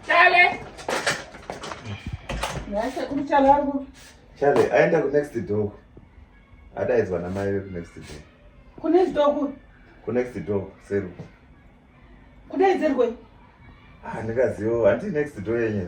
Chale. Nasa kumchala wangu. Chale, aenda ku next door. Adaidzwa na mai ku next door. Ku next door ku? Ku next door, seru. Kudaidzirwe? Ah, ndikaziwo, hanti next door yenyu.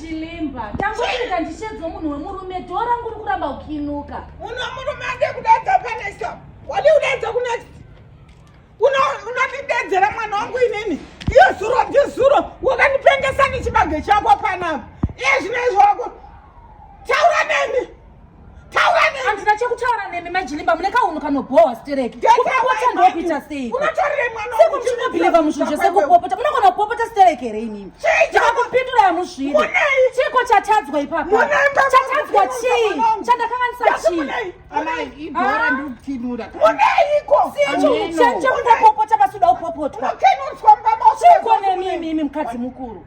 chilimba tangoita ndichedzo munhu wemurume dho rangu uri kuramba ukinuka uno murume ade kudadza panesa wadi kudadza kunext unondidedzera mwana wangu inini iyo zuro ndizuro wakandipengesa nechibage chako panapa iye zvinoizwa wako taura neni handina chekutaura nemi majilimba mune kaunhu kanobhohwa stereki kupopota ndokuita seikosekomuchinobhilivha muzvinhu zvese kupopota munogona kupopota stereki here inini ndikakupindura yamuzviri chiko chatadzwa ipapa chatadzwa chii chandakanganisa chiichekupopota pasuda kupopotwa chiko nemimi mukadzi mukuru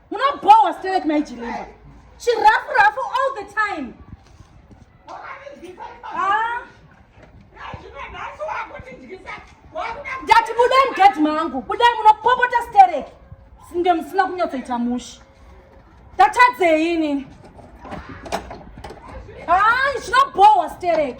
Munobhowa sterek mai Jilimba. She rough rough all the time. Ah. Ndati budai mugedhi mangu. Budai munopopota sterek. Ndio msina kunyatsoita mushi. Tatadzei ini. Ah, zvinobhowa sterek.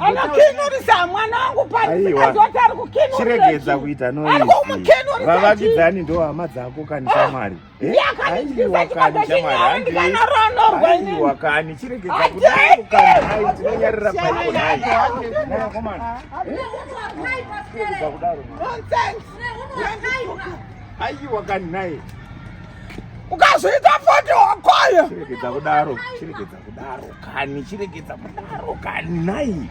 anokinurisa mwana wangu paazoti ari kukinuchiregedza kuita noivavakidzani ndo hama dzako kani shamwari aiwa kani chiregedza kudaokanaitinonyarira paikonaikudaro aiwa kani naye ukazoita foto wakoyo chiregedza kudaro chiregedza kudaro kani chiregedza kudaro kani nai